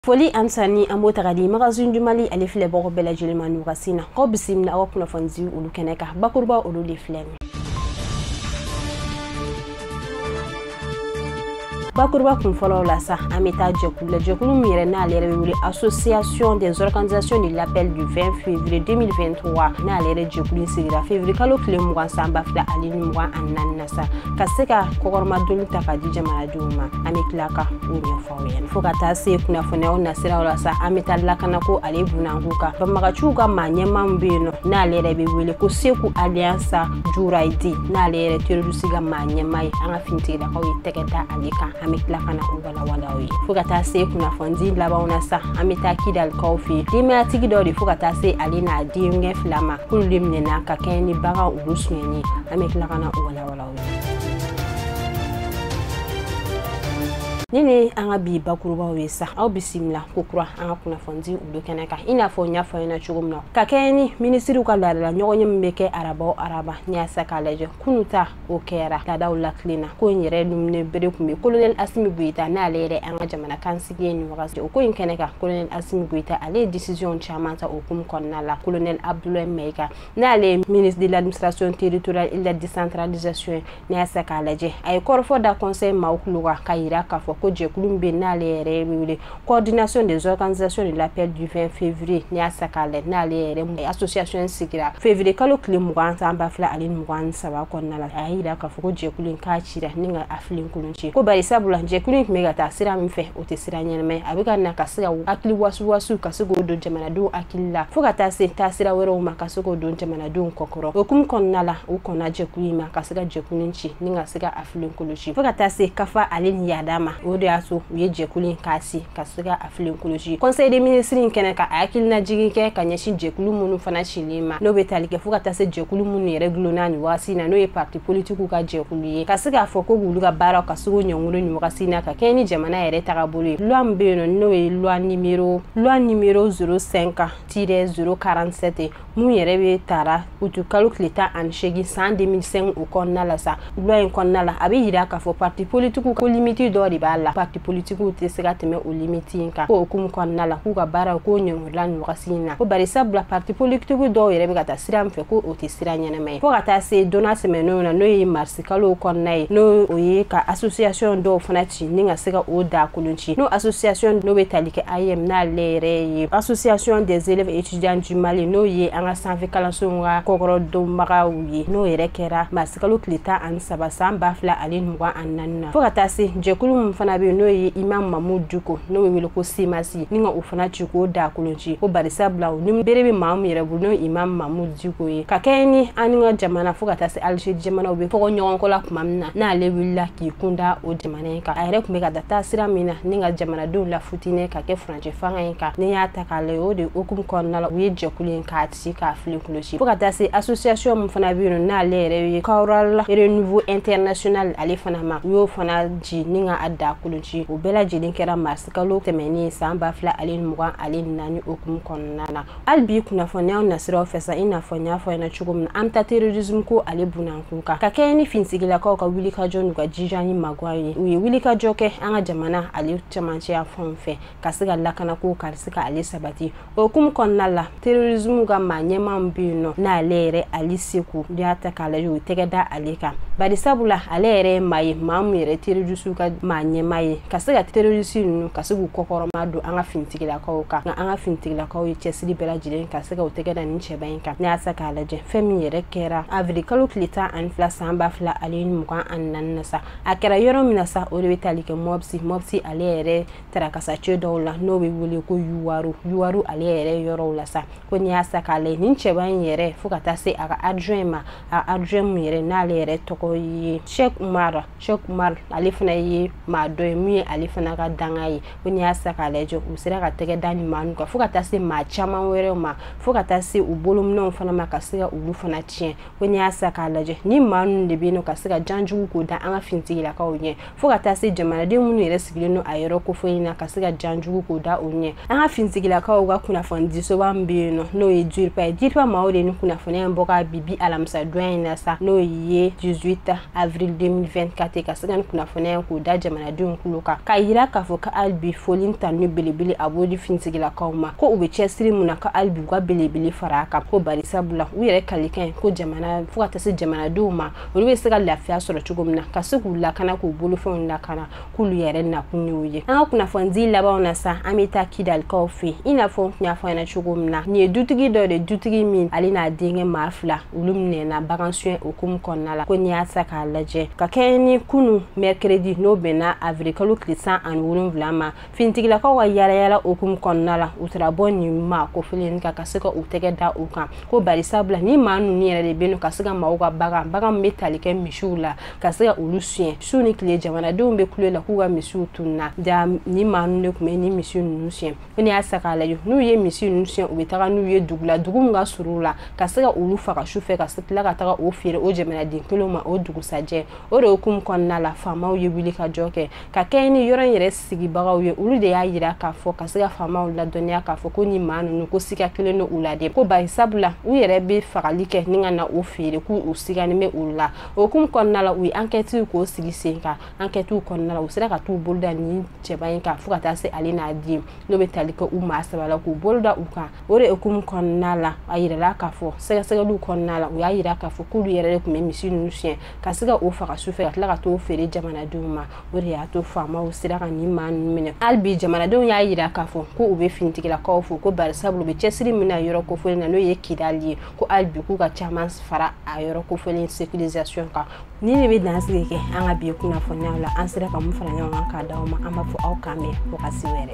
foli ani tanuni an b'o ta ka di magazine du mali ale filɛbagaw bɛɛ lajɛlen ma nin wagati na aw bisimila aw ka kunnafonidiw olu kɛnɛ kan bakuruba olu de filɛ nin bakuruba kun fɔlɔw la sa an bɛ taa jɛkulu la jɛkulu min yɛrɛ n'ale yɛrɛ bɛ wele association des organisations de l'appel du 20 février 2023 n'ale yɛrɛ jɛkulu in sigira février kalo tile mugan san ba fila ani ni mugan ani naani na sa ka se ka kɔkɔrɔmadonni ta ka di jamanadenw ma an bɛ tila ka o ɲɛfɔ fo ka taa se kunnafoniyaw nasiraw la sa an bɛ taa lakana ko ale bunanku kan banbaganciw ka maa ɲɛma min bɛ yen nɔ n'ale yɛrɛ bɛ wele ko seku alias jurayidi n'ale yɛrɛ terorisi ka maa ɲɛma ye an ka finitigilakaw ye tɛgɛ da ale kan an bɛ tila ka na o walawala aw ye fo ka taa se kunnafonidi labanw na sa an bɛ taa kidalikaw fɛ yen denbayatigi dɔ de fo ka taa se ale n'a denkɛ fila ma k'olu de minɛna ka kɛɲɛ ni bagan olu suɲɛni an bɛ tila ka na o walawalaw nin ye an ka bi bakurubaw ye sa aw bisimila kokura an ka kunnafonidi olu kɛnɛ kan i n'a fɔ n y'a fɔ aw ɲɛna cogo min na ka kɛɲɛ ni minisiriw ka laadala ɲɔgɔnye min bɛ kɛ araba o araba n'i y'a ta k'a lajɛ kunu ta o kɛra laadaw latilen na ko in yɛrɛ ɲɛminɛ bere tun bɛ kolonɛli asimi goyita n'ale yɛrɛ an ka jamana kuntigi ye nin wagati o ko in kɛnɛ kan kolonɛli asimi goyita ale ye disisiyɔn caman ta o hukumu kɔnɔna la kolonɛli abudulayi mayiga n'ale ye ministre de l'administration territoriale et de la décentralisation ye n'i y'a ta k'a lajɛ a ye kɔrɔfɔ da conseil maaw tulo kan ka yira k'a fɔ ko jɛkulu min bɛ n'ale yɛrɛ bɛ wele coordination des organisations de l'appel du 20 février n'i y'a ta k'a lajɛ n'ale yɛrɛ association in sigira février kalo tile mugan san ba fila ani mugan ni saba kɔnɔna la a y'a yira k'a fɔ ko jɛkulu in k'a cira ni ka a filen kolon ci ko bari sabula jɛkulu in tun bɛ ka taa sira min fɛ o tɛ sira ɲɛnama ye a bɛ ka na ka se ka hakili wasuwasuw ka se k'o don jamanadenw hakili la fo ka taa se taa sira wɛrɛw ma ka se k'o don jamanadenw kɔkɔrɔ o hukumu kɔnɔna la u kɔnna jɛkulu in ma ka se ka jɛkulu in ci ni ka se ka a filen kolon ci fo ka taa se kafa ale ni yaada ma o de y'a to u ye jɛkulu in k'a ci ka se ka a filen kolon ci conseil des ministres in kɛnɛ kan ka hakilina jigin kɛ ka ɲɛsin jɛkulu minnu fana cilen ma n'o bɛ tali kɛ fo ka taa se jɛkulu minnu yɛrɛ dulonna nin waasi na n'o ye parti politiku ka jɛkulu ye ka se k'a fɔ ko k'olu ka baaraw ka se k'o ɲɔngolo nin wagati na ka kɛɲɛ ni jamana yɛrɛ tagabolo ye loi min bɛ yen nɔ n'o ye loi nimero loi nimero 05 tire 047 min yɛrɛ bɛ tara uti kalo tile tan ani seegin san 2005 o kɔnɔna la sa loi in kɔnɔna la a bɛ yira k'a fɔ parti politiku ko limiti dɔ de b'a la parti politiku tɛ se ka tɛmɛ o limiti in kan ko o hukumu kɔnɔna la k'u ka baaraw k'o ɲɔngolo la nin wagati in na ko bari sabula parti politiki dɔw yɛrɛ bɛ ka taa sira min fɛ ko o tɛ sira ɲɛnama ye fo ka taa se donna tɛmɛnenw na n'o ye marisi kalo kɔnɔna ye n'o ye ka association dɔw fana ci ni ka se ka o da kolon ci n'o association n'o bɛ tali kɛ aeem n'ale yɛrɛ ye association des élèves étudiants du mali n'o ye an ka sanfɛ kalansow ka kɔkɔrɔdonbagaw ye n'o yɛrɛ kɛra marisi kalo tile tan ani saba san ba fila ani mugan ani naani na fo ka taa se jɛkulu min fana bɛ yen n'o ye imam mamudu diko n'o bɛ wele ko cmas sigi ni ka o fana ci k'o da kolon ci ko bari sabula o ni bere bɛ maa min yɛrɛ bolo n'o imam mamudu diko ye ka kɛɲɛ ni an ni ka jamana fo ka taa se alizeri jamana u bɛ fɔgɔ ɲɔgɔnkɔ la tuma min na n'ale wulila k'i kun da o jamana in kan a yɛrɛ tun bɛ ka taa taasira min na ni ka jamanadenw lafitinɛ ka kɛ furancɛ fanga in kan n'i y'a ta k'a lajɛ o de hukumu kɔnɔna la u ye jɛkulu in k'a ci k'a filen kolon ci fo ka taa se association min fana bɛ yen nɔ n'ale yɛrɛ ye kaoural renouveau international ale fana ma u y'o fana ci ni ka a da kolon ci o bɛɛ lajɛlen kɛra mars kalo tɛmɛnen san ba fila ale mugan ale naani o hukumu kɔnɔna na hali bi kunnafoniyaw nasiraw fɛ sa i n'a fɔ n y'a fɔ ɲɛna cogo min na an ta terorisme ko ale binna an kun kan ka kɛɲɛ ni finitigilakaw ka wulikajɔ n'u ka jija ni magwan ye u ye wulikajɔ kɛ an ka jamana ale camancɛ yanfan fɛ ka se ka lakanakow ka se ka ale sabati o hukumu kɔnɔna la terrorisme ka maa ɲɛmaa min bɛ yen nɔ n'ale yɛrɛ ali seku n'i y'a ta k'a lajɛ u tɛgɛ da ale kan bari sabula ale yɛrɛ ye maa ye maa min yɛrɛ terrorisiw ka maa ɲɛmaa ye ka se ka terrorisi ninnu ka se k'u kɔkɔrɔma don an ka finitigilakaw kan nka an ka finitigilakaw ye cɛsiri bɛɛ lajɛlen ka se ka u tɛgɛ da nin cɛba in kan n'i y'a ta k'a lajɛ fɛn min yɛrɛ kɛra avril kalo tile tan ani fila san ba fila ale ni mugan ani naani na sa a kɛra yɔrɔ min na sa o de bɛ tali kɛ mopti mopti ale yɛrɛ tarakasacɛ dɔw la n'o bɛ wele ko yuwaru yuwaru ale yɛrɛ yɔrɔw la sa ko n'i y'a ta k'a lajɛ nin cɛba in yɛrɛ fo ka taa se a ka adjoint ma a adjoint min yɛrɛ n'ale yɛrɛ tɔgɔ ye Sheikh Umar Sheikh Umar ale fana ye maa dɔ ye min ye ale fana ka dankan ye ko n'i y'a ta k'a lajɛ u sera ka tɛgɛ da nin maa ninnu kan fo ka taa se maa caman wɛrɛw ma fo ka taa se u bolominɛnw fana ma ka se ka olu fana tiɲɛ ko n'i y'a ta k'a lajɛ nin maa ninnu de bɛ yen nɔ ka se ka janjugu k'o da an ka finitigilakaw ɲɛ fo ka taa se jamanaden minnu yɛrɛ sigilen don a yɔrɔ kofɔli na ka se ka jan jugu k'o da o ɲɛ an ka finitigilakaw ka kunnafonidisoba min bɛ yen nɔ n'o ye dirpa ye dirpa maaw de nin kunnafoniya in bɔ ka bi bi alamisa donya in na sa n'o ye 18 avril 2024 ka se ka nin kunnafoniya in k'o da jamanadenw kulo kan k'a yira k'a fɔ ka hali bi foli ni tanuni belebele a b'o di finitigilakaw ma ko u bɛ cɛsiri min na ka hali bi u ka belebele fara a kan ko bari sabula u yɛrɛ kalikan ye ko jamana fo ka taa se jamanadenw ma olu bɛ se ka lafiya sɔrɔ cogo min na ka se k'u lakana k'u bolofɛnw lakana k'olu yɛrɛ nakun y'o ye an ka kunnafonidi labanw na sa an bɛ taa kidalikaw fɛ i n'a fɔ n tun y'a fɔ ɲɛna cogo min na nin ye dutigi dɔ de dutigi min ale n'a denkɛ maa fila olu minɛna bagan sonyɛ o hukumu kɔnɔna la ko n'i y'a ta k'a lajɛ ka kɛɲɛ ni kunu mɛrikiredi n'o bɛnna avirikalo tile tan ani wolonwula ma finitigilakaw ka yaalayala o hukumu kɔnɔna la u tara bɔ nin maa kofɔlen kan ka se ka u tɛgɛ da u kan ko bari sabula nin maa ninnu yɛrɛ de bɛ ka se ka maaw ka bagan bagan min bɛ tali kɛ misiw la ka se ka olu siɲɛ su ni tile jamanadenw bɛ kule la k'u ka misiw tununa jaa nin maa ninnu de tun bɛ ni misi ninnu siɲɛ ko ne y'a sa k'a lajɛ n'u ye misi ninnu siɲɛ u bɛ taga n'u ye dugu la dugu min ka surun la ka se ka olu faga su fɛ ka se tila ka taga o feere o jamanaden kelenw ma o dugusajɛ o de hukumu kɔnɔna la faamaw ye wuli ka jɔ kɛ ka kɛɲɛ ni yɔrɔ in yɛrɛ sigibagaw ye olu de y'a yira k'a fɔ ka se ka faamaw ladɔnniya k'a fɔ ko nin maa ninnu ko siga kɛlen don u la de ko bari sabula u yɛrɛ bɛ fagali kɛ ni ka na o feere k'u u siganin bɛ olu la o hukumu kɔnɔna la u ye ankɛtiw k'o sigi sen kan ankɛtiw kɔnɔna la u sera ka t'u bolo da nin cɛba in kan fo ka taa se ale n'a den n'o bɛ tali kɛ u maa saba la k'u bolo da u kan o de hukumu kɔnɔna la a yirala k'a fɔ sɛgɛsɛgɛliw kɔnɔna la u y'a yira k'a fɔ k'olu yɛrɛ de tun bɛ misi ninnu siɲɛ ka se ka o faga su fɛ ka tila ka t'o feere jamanadenw ma o de y'a to faamaw sera ka nin maa ninnu minɛ hali bi jamanadenw y'a yira k'a fɔ ko u bɛ finitigilakaw fo ko barisabu u bɛ cɛsiri min na yɔrɔ kofɔlen na n'o ye kidali ye ko hali bi k'u ka caman fara a yɔrɔ kofɔlen sekirizasiyɔn kan nin de bɛ dansigi kɛ an ka bi kunnafoniyaw la an sera ka min fara ɲɔgɔn kan k'a d'aw ma an b'a fɔ aw k'an bɛn fo ka se wɛrɛ